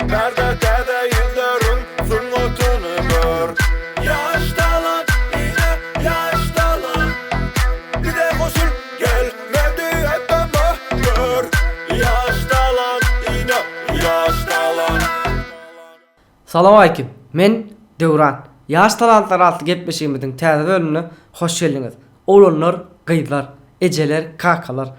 Merde täze ýüzleriň sungatyny gör. Ýaş talant ine ýaş talant. Bize goşul gel Merdi Atama gör. Ýaş talant ine ýaş talant. Salowaleýkim. Men, Döwran. Ýaş talantlar atly gepleşigimiziň täze bölümine hoş geldiňiz. Oglanlar, gyzlar, ejeler, kakalar.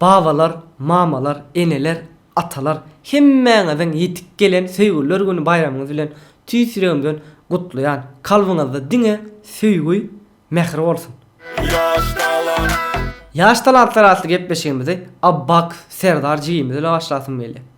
Babalar, mamalar, eneler, atalar hemmäňiziň ýetip gelen Söýgüliler güni baýramyňyz bilen tüýs ýüregimden gutlaýan. Kalbyňyzda diňe söýgi, mähir bolsun! Ýaş talant. Ýaş talantlar atly gepleşigimizi Abbak Serdar jigimiz ile başlasym gelýär.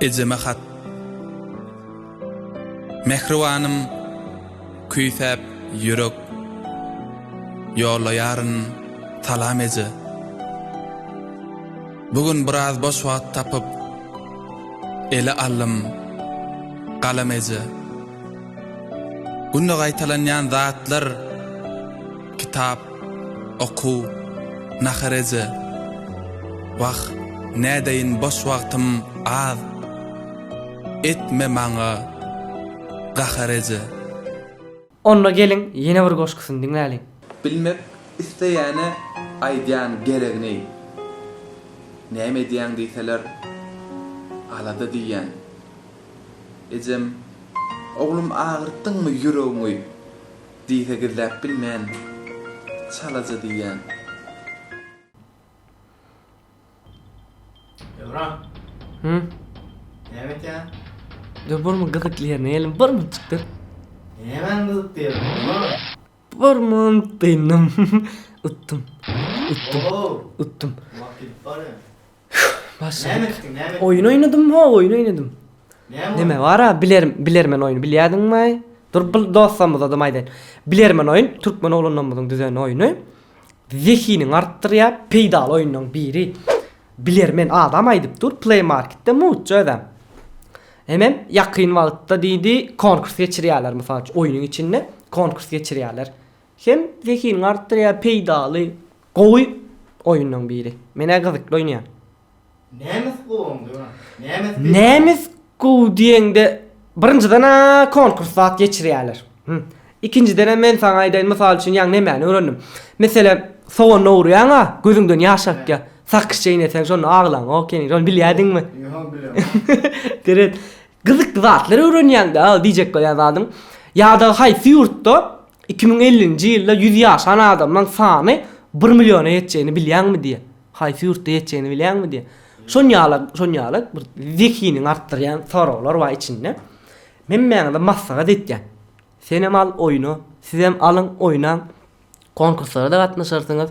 Ejeme hat. Mähribanym, küýsäp ýürek ýollaýaryn salam eje. Bu gün biraz boş wagt tapyp ele aldym galam eje. Günde gaýtalanýan zatlar kitap. Okuw, nahar eje. Wah, nädeýin boş wagtym az. Etme maňa gahar eje. Onda geliň ýene bir goşgusyny diňläliň. Bilmek isleýäne aýdýan geregini. Näme edýäň diýseler, alada diýýän. Ejem, Oglum agyrtdyňmy ýüregiňi? Diýse gizläp bilmen, çalaja diýýän. Döwran. Hü? Näme etýäň? Dö burma gyzykly ýerine geldim. Burma çykdyr. Nämäň gyzykly ýeri? Döwran. Burma dyndym. Utdum. Utdum. Utdum. Wagt gidip barýa. Başladyk. Oýun oýnadym, ho, oýun oýnadym. Näme bar-a, bilerim, bilermen oýny bilýädiňmi-aý? Dur, bir dostlarymyzadam aýdaýyn. Bilermen oýun, türkmen oglanlarymyzyň düzen oýny. Zehinini artdyrýar, peýdaly oýunlaryň biri. Bilermen adam aýdyp dur, Play Market-de mugt özem. Hemem ýakyn wagtda diýdi, konkurs geçirýärler, mysal üçin, oýnuň içinde konkurs geçirýärler. Hem zehiniňi artdyrýar peýdaly gowy oýunlaň biri. Menä gyzykly oýnaýan. Nemes gowumy döwran? Nemes peýdaly. Nemes gowy diýeňde birinjiden-ä konkurs zat geçirýäler. Him. Ikinjidenem men saňa aýdaýyn mysal üçin ýaňy nemäni öwrendim. Meselem soganyny owurýaňa gözüňden ýaş akýa. Sakyş çeýneseň şonda aglaň ok ýene ony bilýädiňmi? Ýok bilemok. Deret. Gyzykly zatlar öwrenýäňdä diýjek bolýan zadyň ýadagy haýsy ýurtda iki müň ellinji ýylda ýüz ýaşan adamlaň sany bir milliona ýetjegini bilýäňmi diýýä. Haýsy ýurtda ýetjegini bilýäňmi diýýä. Şon ýala şon ýala bir zehiniňi artdyrýan soraglar bar içinde. Hemmäňize maslahat etýän. Senem al oýna, sizem alyň oýnaň. Konkurslara-da gatnaşarsyňyz.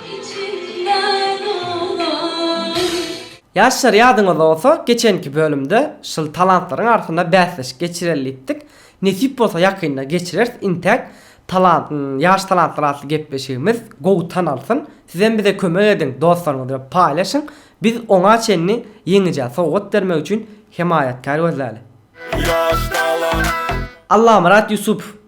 Ýaşlar ýadyňyzda bolsa geçenki bölümde şul talantlaryň arasynda bäsleşik geçireli diýipdik. Nesip bolsa ýakynda geçireris intäk talant ýaş talantlar atly gepleşigimiz gowy tanalsyn. Sizem bize kömek ediň dostlaryňyz bilen paýlaşyň. Biz oňa çenli ýeňijä sowgat bermek üçin hemaýatkär gözläli. Allamyrat Ýusupow.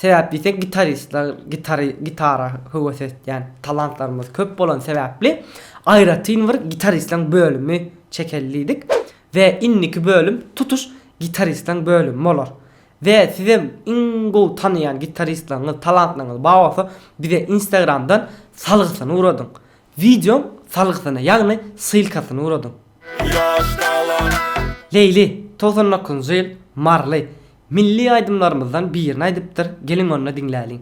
Sebäp diýsek, gitaristler, gitary, gitara höwes etýän talantlarymyz köp bolan sebäpli, aýratyn bir gitaristleriň bölümi çekeli diýdik. We indiki bölüm tutuş gitaristleriň bölümi bolar. We sizem iň gowy tanaýan gitaristleriňiz, talantlaryňyz bar bolsa, bize Instagramdan salgysyny ugradyň. Wideoň salgysyny ýagny ssylkasyny ugradyň. Leýli, togsan dokuzynjy ýyl, Marly, milli aýdymlarymyzdan birini aýdypdyr, geliň onda diňläliň.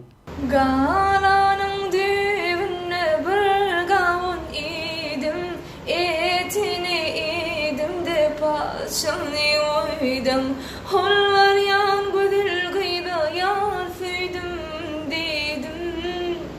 Galanyň düýbünde bir gawun iýdim, etini iýdim-de paçygyny goýdum. Holwarýan gözel gyza ýar söýdüm diýdim.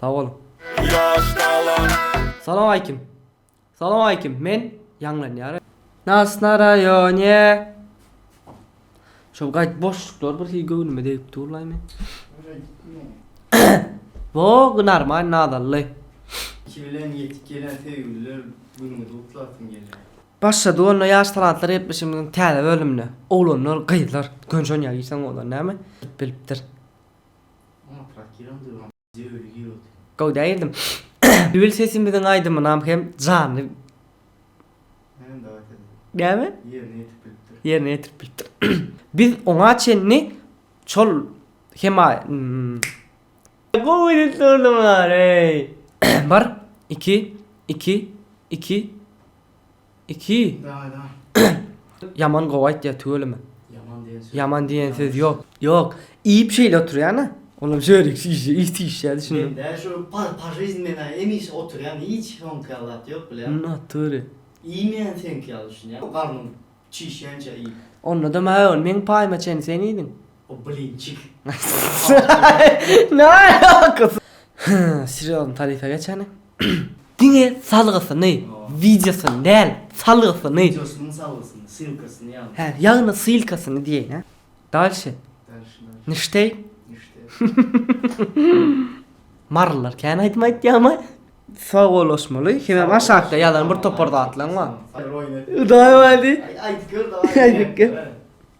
Sag boluň. Salam aýkim. Salam aýkim men ýaňlanýar. Nas na raýone. Şol gaýt boşluklar bir hili göwnüme degip durlaý men. Wo gynarmaýyn nazally. Iki bilen ýetip gelen söýgüliler günüňizi gutlasym gelýär. Başlady onda ýaş talantlar gepleşigimiziň täze bölümine. Oglanlar, gyzlar, gönşen ýa girseň bolar näme? Bilipdir. Gowda aýdym. Düýl sesimiziň aýdymynam hem janly. Näme? Ýerine ýetirip bilipdir. Ýerine ýetirip bilipdir. Biz oňa çenli şol hema Gowy edip durdyňlar eý. Bir, iki, iki, iki. Iki. Ýaman gowy aýtýar tüweleme. Ýaman diýen söz ýok. Ýok, iýip şeýle oturýana. Olam şörik şişe iýip şişe düşündim. Men däl şu pa жизнь men hemişe oturýan hiç soňky ýaly zat ýok bilýän. Yn natury. Iýmeýän seňki ýaly düşünýän garnym çişýänçä iýip. Onda da maý ol meň paýyma çenli sen iýdiň. O blinçik. Ne alakasy. Serýozny tarypa geçäni. Diňe salgysyny, wideosyny däl, salgysyny. Wideosynyň salgysyny, sylkasyny ýazyň. Hä, ýagny sylkasyny diýeýin hä. Dalşi. Dalşi nä. Nişteý. Nişteý. Marylylar kän aýdym aýtýamy? Sawollaşmaly, hemem aşakda ýazan bir topar zatlaň bar. Hudaý bardy. Aýdyp gör dawaý. Aýdyp gör.